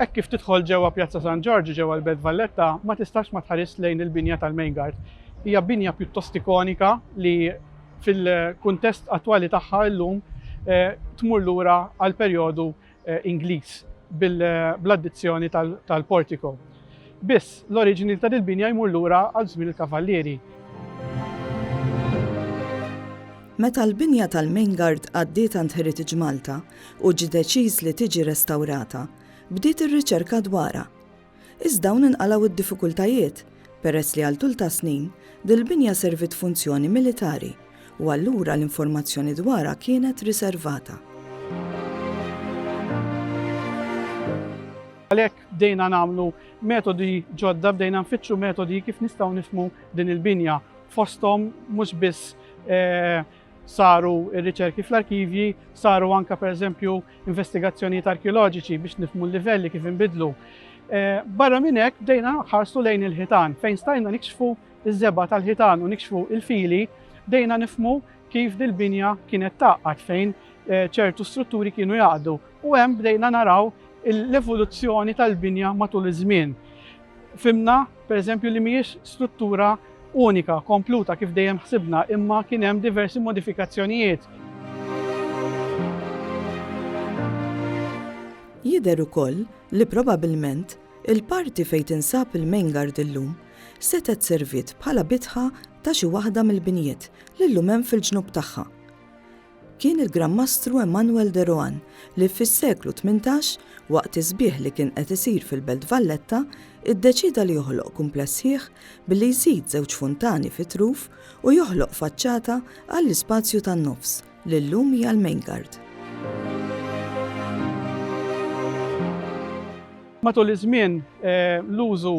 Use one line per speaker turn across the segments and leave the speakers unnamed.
Hekk kif tidħol ġewwa Pjazza San Ġorġ ġewwa l-Belt Valletta ma tistax ma tħares lejn il-binja tal-Main Guard. Hija binja pjuttost ikonika li fil-kuntest attwali tagħha llum eh, tmur lura għal perjodu Ingliż bl-addizzjoni tal-portico. Biss, l-oriġini ta' dil-binja jmur lura għal żmien il-Kavallieri.
Meta l-binja tal-Main Guard għaddiet għand Heritage Malta u ġie deċiż li tiġi restawrata, bdiet ir-riċerka dwarha. Iżda hawn inqalgħu d-diffikultajiet, peress li għal tul ta' snin, dil-binja serviet funzjoni militari u allura l-informazzjoni dwarha kienet riservata.
Għalhekk bdejna nagħmlu metodi ġodda, bdejna nfittxu metodi kif nistgħu nifhmu din il-binja, fosthom mhux biss saru r-riċerki fl-arkivji, saru anke pereżempju investigazzjonijiet arkeoloġiċi biex nifmu l-livelli kif inbidlu. Eh, barra minn hekk bdejna ħarsu lejn il-ħitan fejn stajna nikxfu iż-żeba tal-ħitan u nikxfu il-fili, bdejna nifmu kif dil-binja kienet taqqat fejn eh, ċertu strutturi kienu jaqdu u hemm bdejna naraw l-evoluzzjoni tal-binja matul iż-żmien. Fhimna, pereżempju, li mhijiex struttura unika, kompluta kif dejjem ħsibna, imma kien hemm diversi modifikazzjonijiet.
Jidher ukoll li probabbilment il-parti fejn tinsab il-Main Guard illum setgħet serviet bħala bitħa ta' xi waħda mill-binjiet li llum hemm fil-ġnub tagħha. Kien il-Gran Mastru Emanuel de Rohan li fis-seklu tmintax, waqt is-sbieħ li kien qed isir fil-Belt Valletta, iddeċieda li joħloq kumpless sħiħ billi jżid żewġ funtani fit-truf u joħloq faċċata għall-ispazju tan-nofs, li llum hija l-Maingard.
Matul iż-żmien, l-użu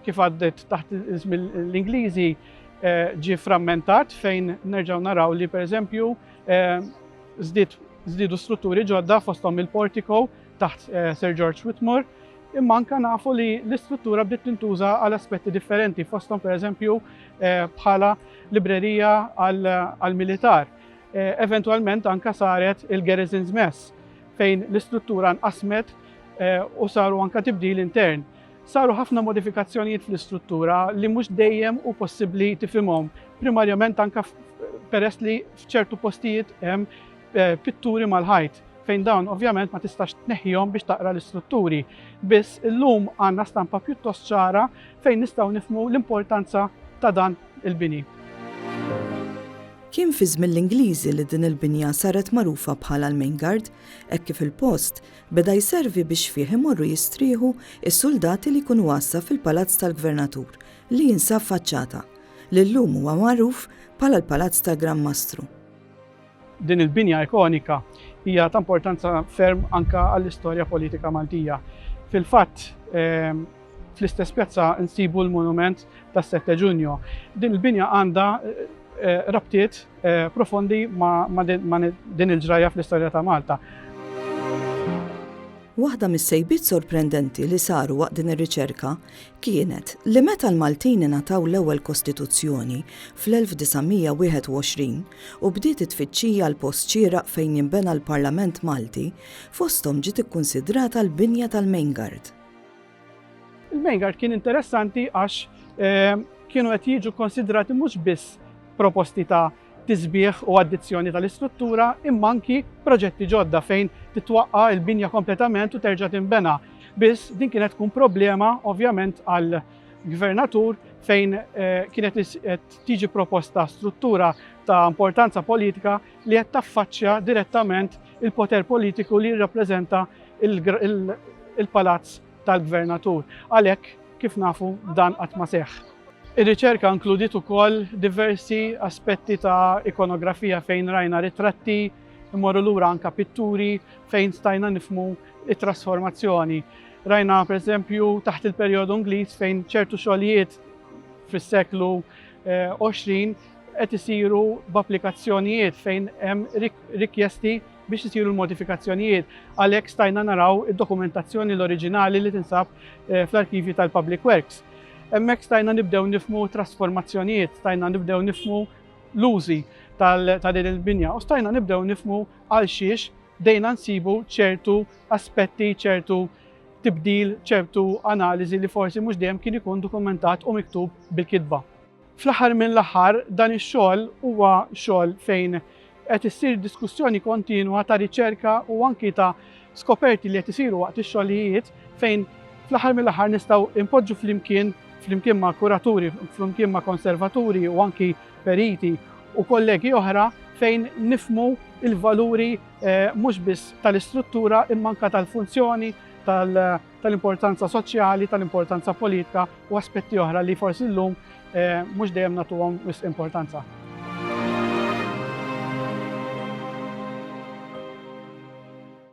kif għaddet taħt ismi l-Ingliżi eh, ġi frammentat fejn nerġaw naraw li per eżempju eh, zdidu strutturi ġodda fostom il-portiko taħt eh, Sir George Whitmore imma anka nafu li l-istruttura bdiet tintuża għal aspetti differenti fostom per eżempju bħala librerija għal-militar. Eventualment anka saret il-Garrison's Mess fejn l-istruttura nqasmet u saru anka tibdil intern. Saru ħafna modifikazzjonijiet fl-istruttura li mhux dejjem hu possibbli tifhimhom, primarjament anke peress li f'ċertu postijiet hemm eh, pitturi mal-ħajt fejn dawn ovvjament ma tistax tneħħihom biex taqra l-istrutturi. Biss illum għandna stampa pjuttost ċara fejn nistgħu nifmu l-importanza ta' dan il-bini.
Kien fi żmien l-Ingliżi li din il-binja saret magħrufa bħala l-Main Guard, hekk kif il-post Beda jservi biex fih imorru jistrieħu s-suldati li jkunu għassa fil-Palazz tal-Gvernatur li jinsab f'Aċċata, li llum huwa magħruf bħala l-Palazz tal-Gran Mastru.
Din il-binja ikonika hija ta' importanza ferm anke għall-istorja politika Maltija. Fil-fatt, fl-istess pjazza nsibu l-monument tas-Sette Ġunju. Din il-binja għandha rabtiet profondi ma' din il-ġrajja fl-istorja ta' Malta.
Waħda mis-sejbiet sorprendenti li saru waqt din ir-riċerka kienet li meta l-Maltin ingħataw l-ewwel Kostituzzjoni fl-1921 u bdiet it-tfittxija għal post xieraq fejn jinbena l-Parlament Malti, fosthom ġiet ikkunsidrata l-binja tal-Main Guard.
Il-Main Guard kien interessanti għax eh, kienu qed jiġu konsidrati mhux biss proposti ta' tisbieħ u addizzjoni tal-istruttura imma anki proġetti ġodda fejn titwaqqa il-binja kompletament u terġa' tinbena. Biss din kienet tkun problema ovvjament għal gvernatur fejn eh, kienet tiġi proposta struttura ta' importanza politika li qed taffaċċja direttament il-poter politiku li jirrappreżenta l-Palazz tal-Gvernatur. Għalhekk, kif nafu, dan qatt ma seħħ. Ir-riċerka inkludiet ukoll diversi aspetti ta' ikonografija fejn rajna ritratti, immorru lura anka pitturi fejn stajna nifmu it-trasformazzjoni. Rajna per esempio taħt il-perjodu Ingliż fejn ċertu xogħlijiet fis-seklu 20 eh, qed isiru b'applikazzjonijiet fejn hemm rikjesti biex isiru l-modifikazzjonijiet. Għalhekk stajna naraw id-dokumentazzjoni l-oriġinali li tinsab eh, fl-arkivju tal-Public Works. Hemmhekk stajna nibdew nifmu trasformazzjonijiet, stajna nibdew nifmu l-użi ta' din il-binja u stajna nibdew nifmu għal xiex dejna nsibu ċertu aspetti, ċertu tibdil, ċertu analiżi li forsi mhux dejjem kien ikun dokumentat u miktub bil-kitba. Fl-aħħar mill-aħħar, dan ix-xogħol huwa xogħol fejn qed issir diskussjoni kontinwa ta' riċerka u anki ta' skoperti li qed isiru waqt ix-xogħlijiet fejn fl-aħħar mill-aħħar nistgħu npoġġu flimkien flimkien ma' kuraturi, flimkien ma' konservaturi u anki periti u kollegi oħra fejn nifmu il-valuri eh, mhux biss tal-istruttura imma anka tal-funzjoni tal-, -funzjoni, tal tal-importanza soċjali, tal-importanza politika u aspetti oħra li forsi llum eh, mhux dejjem nagħtuhom wisq importanza.